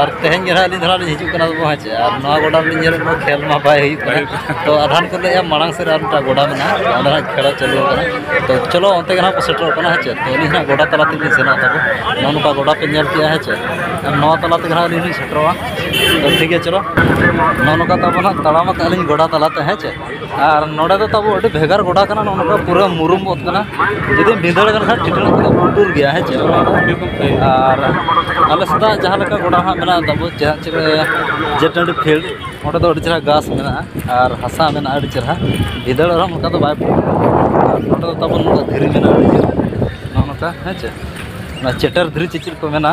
ᱟᱨ ᱛᱮᱦᱮᱧ ᱜᱮ ᱱᱟᱦᱟᱜ ᱟᱹᱞᱤᱧ ᱫᱚ ᱱᱟᱦᱟᱜ ᱞᱤᱧ ᱦᱤᱡᱩᱜ ᱠᱟᱱᱟ ᱵᱟᱵᱚ ᱦᱮᱸ ᱪᱮ ᱟᱨ ᱱᱚᱣᱟ ᱜᱚᱰᱟ ᱨᱮᱞᱤᱧ ᱧᱮᱞᱮᱫ ᱠᱚᱣᱟ ᱠᱷᱮᱞ ᱢᱟ ᱵᱟᱭ ᱦᱩᱭᱩᱜ ᱠᱟᱱᱟ ᱛᱚ ᱟᱫᱷᱟᱱ ᱠᱚ ᱞᱟᱹᱭᱮᱫᱼᱟ ᱢᱟᱲᱟᱝ ᱥᱮᱫ ᱨᱮ ᱟᱨ ᱢᱤᱫᱴᱟᱝ ᱜᱚᱰᱟ ᱢᱮᱱᱟᱜᱼᱟ ᱚᱸᱰᱮ ᱱᱟᱦᱟᱜ ᱠᱷᱮᱞ ᱪᱟᱹᱞᱩ ᱟᱠᱟᱱᱟ ᱛᱚ ᱪᱚᱞᱚ ᱚᱱᱛᱮ ᱜᱮ ᱱᱟᱦᱟᱜ ᱠᱚ ᱥᱮᱴᱮᱨᱚᱜ ᱠᱟᱱᱟ ᱦᱮᱸ ᱪᱮ ᱛᱚ ᱟᱹᱞᱤᱧ ᱱᱟᱦᱟᱜ ᱜᱚᱰᱟ ᱛᱟᱞᱟ ᱛᱮᱞᱤᱧ ᱥᱮᱱᱚᱜ ᱛᱟᱵᱚ ᱱᱚᱜᱼᱚ ᱱᱚᱝᱠᱟ ᱜᱚᱰᱟ ᱯᱮ ᱧᱮᱞ ᱠᱮᱜᱼᱟ ᱦᱮᱸ ᱪᱮ ᱟᱨ ᱱᱚᱣᱟ ᱛᱟᱞᱟ ᱛᱮᱜᱮ ᱱᱟᱦᱟᱜ ᱟᱹᱞᱤᱧ ᱞᱤᱧ ᱥᱮᱴᱮᱨᱚᱜᱼᱟ ᱛᱚ ᱴᱷᱤᱠ ᱜᱮᱭᱟ ᱪᱚᱞᱚ ᱱᱚᱜᱼᱚ ᱱᱚᱝᱠᱟ ᱛᱟᱵᱚ ᱱᱟᱦᱟᱜ ᱛᱟᱲᱟᱢ ᱟᱠᱟᱫᱼᱟ ᱞᱤᱧ ᱜᱚᱰᱟ ᱛᱟᱞᱟ ᱛᱮ ᱦᱮᱸ ᱪᱮ ᱟᱨ ᱱᱚᱰᱮ ᱫᱚ ᱛᱟᱵᱚ ᱟᱹᱰᱤ ᱵᱷᱮᱜᱟᱨ ᱜᱚᱰᱟ ᱠᱟᱱᱟ ᱱᱚᱜᱼᱚ ᱱᱚᱝᱠᱟ ᱯᱩᱨᱟᱹ ᱢᱩᱨᱩᱢ ᱚᱛ ᱠᱟᱱᱟ ᱡᱩᱫᱤᱢ ᱵᱷᱤᱸᱫᱟᱹᱲ ᱟᱠᱟᱱ ᱠᱷᱟᱱ ᱴᱷᱤᱴᱲᱟᱹᱜ ᱠᱚᱫᱚ ᱯᱩᱴᱩᱨ ᱜᱮᱭᱟ ᱦᱮᱸ ᱪᱮ ᱚᱱᱟ ᱫᱚ ᱟᱨ ᱟᱞᱮ ᱥᱮᱫᱟᱜ ᱡᱟᱦᱟᱸ ᱞᱮᱠᱟ ᱜᱚᱰᱟ ᱦᱟᱸᱜ ᱢᱮᱱᱟᱜᱼᱟ ᱛᱟᱵᱚ ᱡᱟᱦᱟᱸ ᱪᱮᱫ ᱡᱮ ᱴᱟᱺᱰᱤ ᱯᱷᱤᱞᱰ ᱚᱸᱰᱮ ᱫᱚ ᱟᱹᱰᱤ ᱪᱮᱦᱨᱟ ᱜᱷᱟᱥ ᱢᱮᱱᱟᱜᱼᱟ ᱟᱨ ᱦᱟᱥᱟ ᱢᱮᱱᱟᱜᱼᱟ ᱟᱹᱰᱤ ᱪᱮᱦᱨᱟ ᱵᱷᱤᱸᱫᱟᱹᱲ ᱨᱮᱦᱚᱸ ᱚᱱᱠᱟ ᱫᱚ ᱵᱟᱭ ᱟᱨ ᱱᱚᱰᱮ ᱫᱚ ᱛᱟᱵᱚᱱ ᱫᱷᱤᱨᱤ ᱢᱮᱱᱟᱜᱼᱟ ᱟᱹᱰᱤ ᱪᱮᱦᱨᱟ ᱱᱚᱜᱼᱚ ᱱᱚᱝᱠᱟ ᱦᱮᱸ ᱪᱮ ᱚᱱᱟ ᱪᱮᱴᱮᱨ ᱫᱷᱤᱨᱤ ᱪᱮ ᱪᱮᱫ ᱠᱚ ᱢᱮᱱᱟ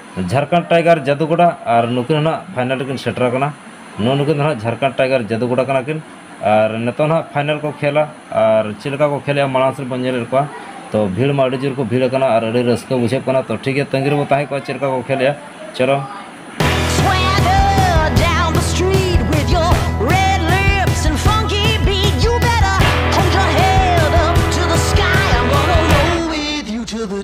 ᱡᱷᱟᱨᱠᱷᱚᱸᱰ ᱴᱟᱭᱜᱟᱨ ᱡᱟᱫᱩᱜᱚᱰᱟ ᱟᱨ ᱱᱩᱠᱤᱱ ᱦᱚᱸ ᱱᱟᱦᱟᱜ ᱯᱷᱟᱭᱱᱟᱞ ᱨᱮᱠᱤᱱ ᱥᱮᱴᱮᱨ ᱟᱠᱟᱱᱟ ᱱᱩᱜᱼᱩ ᱱᱩᱠᱤᱱ ᱫᱚ ᱱᱟᱦᱟᱜ ᱡᱷᱟᱨᱠᱷᱚᱸᱰ ᱴᱟᱭᱜᱟᱨ ᱡᱟᱫᱩᱜᱚᱰᱟ ᱠᱟᱱᱟ ᱠᱤᱱ ᱟᱨ ᱱᱤᱛᱚᱜ ᱱᱟᱦᱟᱜ ᱯᱷᱟᱭᱱᱟᱞ ᱠᱚ ᱠᱷᱮᱞᱟ ᱟᱨ ᱪᱮᱫ ᱞᱮᱠᱟ ᱠᱚ ᱠᱷᱮᱞᱮᱜᱼᱟ ᱢᱟᱲᱟᱝ ᱥᱮᱫ ᱵᱚᱱ ᱧᱮᱞᱮᱫ ᱠᱚᱣᱟ ᱛᱚ ᱵᱷᱤᱲ ᱢᱟ ᱟᱹᱰᱤ ᱡᱳᱨ ᱠᱚ ᱵᱷᱤᱲ ᱟᱠᱟᱱᱟ ᱟᱨ ᱟᱹᱰᱤ ᱨᱟᱹᱥᱠᱟᱹ ᱵᱩᱡᱷᱟᱹᱜ ᱠᱟᱱᱟ ᱛᱚ ᱴᱷᱤᱠ ᱜᱮᱭᱟ ᱛᱟᱺᱜᱤ ᱨᱮᱵᱚ ᱛᱟᱦᱮᱸ ᱠᱚᱜᱼᱟ ᱪᱮᱫ ᱞᱮᱠᱟ ᱠᱚ ᱠᱷᱮᱞᱮᱜᱼᱟ ᱪᱚᱞᱚ Swagger down the street with your red lips and funky beat. You better hold your head up to the sky. I'm gonna roll with you to the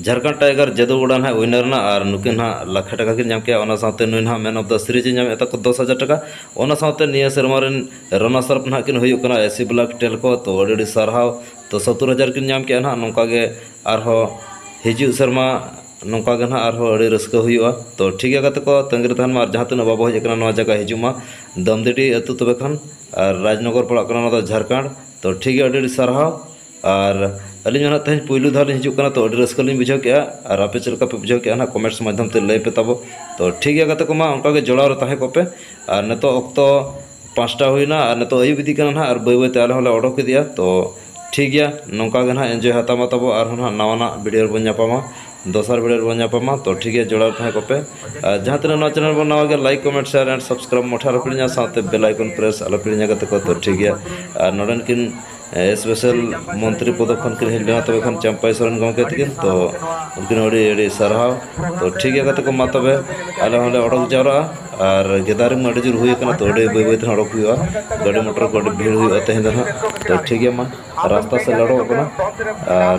Jharkhand tiger ᱡᱟᱹᱫᱩ ᱜᱚᱰᱟ ᱱᱟᱦᱟᱜ ᱩᱭᱱᱟᱨ ᱮᱱᱟ ᱟᱨ ᱱᱩᱠᱤᱱ ᱱᱟᱦᱟᱜ ᱞᱟᱠᱷᱮ ᱴᱟᱠᱟ ᱠᱤᱱ ᱧᱟᱢ ᱠᱮᱜᱼᱟ ᱚᱱᱟ ᱥᱟᱶᱛᱮ ᱱᱩᱭ ᱱᱟᱦᱟᱜ ᱢᱮᱱ ᱚᱯᱷ ᱫᱟ ᱥᱤᱨᱤᱡᱽ ᱮ ᱧᱟᱢ ᱮᱜ ᱛᱟᱠᱚ ᱫᱚᱥ ᱦᱟᱡᱟᱨ ᱴᱟᱠᱟ ᱚᱱᱟ ᱥᱟᱶᱛᱮ ᱱᱤᱭᱟᱹ ᱥᱮᱨᱢᱟ ᱨᱮᱱ ᱨᱟᱱᱟᱨᱥ ᱟᱯ ᱱᱟᱦᱟᱜ ᱠᱤᱱ ᱦᱩᱭᱩᱜ ᱠᱟᱱᱟ ᱮᱥᱤ ᱵᱞᱚᱠ ᱴᱮᱞᱠᱳ ᱛᱚ ᱟᱹᱰᱤ ᱟᱹᱰᱤ ᱥᱟᱨᱦᱟᱣ ᱛᱚ ᱥᱳᱛᱛᱳᱨ ᱦᱟᱡᱟᱨ ᱠᱤᱱ ᱧᱟᱢ ᱠᱮᱜᱼᱟ ᱱᱟᱦᱟᱜ ᱱᱚᱝᱠᱟ ᱜᱮ ᱟᱨᱦᱚᱸ ᱦᱤᱡᱩᱜ ᱥᱮᱨᱢᱟ ᱱᱚᱝᱠᱟ ᱜᱮ ᱱᱟᱦᱟᱜ ᱟᱨᱦᱚᱸ ᱟᱹᱰᱤ ᱨᱟᱹᱥᱠᱟᱹ ᱦᱩᱭᱩᱜᱼᱟ ᱛᱚ ᱴᱷᱤᱠ ᱜᱮᱭᱟ ᱜᱟᱛᱮ ᱠᱚ ᱛᱟᱹᱜᱤ ᱨᱮ ᱛᱟᱦᱮᱱ ᱢᱮ ᱟᱨ ᱡᱟᱦᱟᱸ ᱛᱤᱱᱟᱹᱜ ᱵᱟᱵᱚ ᱦᱮᱡ ᱠᱟᱱᱟ ᱱᱚᱣᱟ ᱡᱟᱭᱜᱟ ᱦᱤᱡᱩᱜ ᱢᱟ ᱫᱟᱹᱢᱫᱤᱰᱤ ᱟᱛᱳ ᱛᱚᱵᱮ ᱠᱷᱟᱱ ᱟᱨ ᱨᱟᱡᱽᱱᱚᱜᱚᱨ ᱯᱟᱲᱟᱜ ᱠᱟᱱᱟ ᱱᱚᱣᱟ ᱫᱚ ᱡᱷᱟᱲᱠᱷᱚᱸᱰ ᱛᱚ ᱴᱷᱤᱠ ᱜᱮᱭᱟ ᱟᱹᱰᱤ ᱟᱹᱰᱤ ᱥᱟᱨᱦᱟᱣ ᱟᱨ ᱟᱹᱞᱤᱧ ᱦᱚᱸ ᱱᱟᱦᱟᱜ ᱛᱮᱦᱮᱧ ᱯᱳᱭᱞᱳ ᱫᱷᱟᱣ ᱞᱤᱧ ᱦᱤᱡᱩᱜ ᱠᱟᱱᱟ ᱛᱚ ᱟᱹᱰᱤ ᱨᱟᱹᱥᱠᱟᱹ ᱞᱤᱧ ᱵᱩᱡᱷᱟᱹᱣ ᱠᱮᱜᱼᱟ ᱟᱨ ᱟᱯᱮ ᱪᱮᱫ ᱞᱮᱠᱟ ᱯᱮ ᱵᱩᱡᱷᱟᱹᱣ ᱠᱮᱜᱼᱟ ᱦᱟᱸᱜ ᱠᱚᱢᱮᱱᱴᱥ ᱢᱟᱫᱽᱫᱷᱚᱢ ᱛᱮ ᱞᱟᱹᱭ ᱯᱮ ᱛᱟᱵᱚᱱ ᱛᱚ ᱴᱷᱤᱠ ᱜᱮᱭᱟ ᱜᱟᱛᱮ ᱠᱚᱢᱟ ᱚᱱᱠᱟ ᱜᱮ ᱡᱚᱲᱟᱣ ᱨᱮ ᱛᱟᱦᱮᱸ ᱠᱚᱜ ᱯᱮ ᱟᱨ ᱱᱤᱛᱚᱜ ᱚᱠᱛᱚ ᱯᱟᱸᱪᱴᱟ ᱦᱩᱭᱱᱟ ᱟᱨ ᱱᱤᱛᱚᱜ ᱟᱹᱭᱩᱵ ᱤᱫᱤᱜ ᱠᱟᱱᱟ ᱦᱟᱸᱜ ᱟᱨ ᱵᱟᱹᱭ ᱵᱟᱹᱭ ᱛᱮ ᱟᱞᱮ ᱦᱚᱸᱞᱮ ᱚᱰᱚᱠ ᱤᱫᱤᱜᱼᱟ ᱛᱚ ᱴᱷᱤᱠ ᱜᱮᱭᱟ ᱱᱚᱝᱠᱟ ᱜᱮ ᱦᱟᱸᱜ ᱤᱱᱡᱚᱭ ᱦᱟᱛᱟᱣ ᱢᱟ ᱛᱟᱵᱚᱱ ᱟᱨᱦᱚᱸ ᱦᱟᱸᱜ ᱱᱟᱣᱟ ᱱᱟᱜ ᱵᱷᱤᱰᱭᱳ ᱨᱮᱵᱚᱱ ᱧᱟᱯᱟᱢᱟ ᱫᱚᱥᱟᱨ ᱵᱷᱤᱰᱭᱳ ᱨᱮᱵᱚᱱ ᱧᱟᱯᱟᱢᱟ ᱛᱚ ᱴᱷᱤᱠ ᱜᱮᱭᱟ ᱡᱚᱲᱟᱣ ᱨᱮ ᱛᱟᱦᱮᱸ ᱠᱚᱜ ᱯᱮ ᱟᱨ ᱡᱟᱦᱟᱸ ᱛᱤᱱᱟᱹᱜ ᱱᱚᱣᱟ ᱪᱮᱱᱮᱞ ᱨᱮᱵᱚᱱ ᱱᱟᱣᱟ ᱜᱮᱭᱟ like comment share and subscribe ᱢᱚᱴᱷᱮ ᱟᱞᱚ ᱯᱮ ᱦᱤᱲᱤᱧᱟ ᱥᱟᱶᱛᱮ ᱵᱮᱞ ᱟᱭᱠᱚᱱ ᱯᱨᱮᱥ ᱟᱞᱚ ᱯᱮ ᱦᱤᱲᱤᱧᱟ ᱜᱟᱛᱮ ᱠᱚ ᱛᱚ ᱴᱷᱤᱠ ᱜᱮᱭᱟ ᱟᱨ ᱱᱚᱰᱮᱱ ᱠᱤᱱ ᱥᱯᱮᱥᱟᱞ ᱢᱚᱱᱛᱨᱤ ᱯᱚᱫ ᱠᱷᱚᱱ ᱠᱤᱱ ᱦᱮᱡ ᱞᱮᱱᱟ ᱛᱚᱵᱮ ᱠᱷᱟᱱ ᱪᱟᱢᱯᱟᱭ ᱥᱚᱨᱮᱱ ᱜᱚᱢᱠᱮ ᱛᱟᱹᱠᱤᱱ ᱛᱚ ᱩᱱᱠᱤᱱ ᱟᱹᱰᱤ ᱟᱹᱰᱤ ᱥᱟᱨᱦᱟᱣ ᱛᱚ ᱴᱷᱤᱠ ᱜᱮᱭᱟ ᱜᱟᱛᱮ ᱠᱚ ᱢᱟ ᱛᱚᱵᱮ ᱟᱞᱮ ᱦᱚᱸᱞᱮ ᱚᱰᱚᱠ ᱡᱟᱣᱨᱟᱜᱼᱟ ᱟᱨ ᱜᱮᱫᱟᱨᱤᱝ ᱢᱟ ᱟᱹᱰᱤ ᱡᱳᱨ ᱦᱩᱭ ᱠᱟᱱᱟ ᱛᱚ ᱟᱹᱰᱤ ᱵᱟᱹᱭ ᱵᱟᱹᱭ ᱛᱮᱦᱚᱸ ᱚᱰᱚᱠ ᱦᱩᱭᱩᱜᱼᱟ ᱜᱟᱹᱰᱤ ᱢᱚᱴᱚᱨ ᱠᱚ ᱟᱹᱰᱤ ᱵᱷᱤᱲ ᱦᱩᱭᱩᱜᱼᱟ ᱛᱮᱦᱮᱧ ᱫᱚ ᱦᱟᱸᱜ ᱛᱚ ᱴᱷᱤᱠ ᱜᱮᱭᱟ ᱢᱟ ᱨᱟᱥᱛᱟ ᱥᱮᱫ ᱞᱮ ᱚᱰᱚᱠᱚᱜ ᱠᱟᱱᱟ ᱟᱨ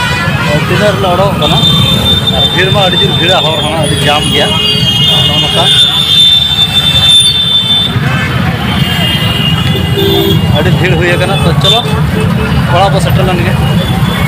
ᱛᱤᱱᱟᱹᱜ ᱨᱮᱞᱮ ᱚᱰᱚᱠᱚᱜ ᱠᱟᱱᱟ ᱟᱨ ᱵᱷᱤᱲ ᱢᱟ ᱟᱹᱰᱤ ᱡᱳᱨ ᱵᱷᱤᱲᱟ ᱦᱚᱲ ᱦᱚᱸ ᱟᱹᱰᱤ ᱡᱟᱢ ᱜᱮᱭᱟ ᱱᱚᱜᱼᱚ ᱱᱚᱝᱠᱟ ᱟᱹᱰᱤ ᱵᱷᱤᱲ ᱦᱩᱭ ᱟᱠᱟᱱᱟ ᱛᱚ ᱪᱚᱞᱚ ᱚᱲᱟᱜ ᱵᱚ ᱥᱮᱴᱮᱨ ᱞᱮᱱ ᱜᱮ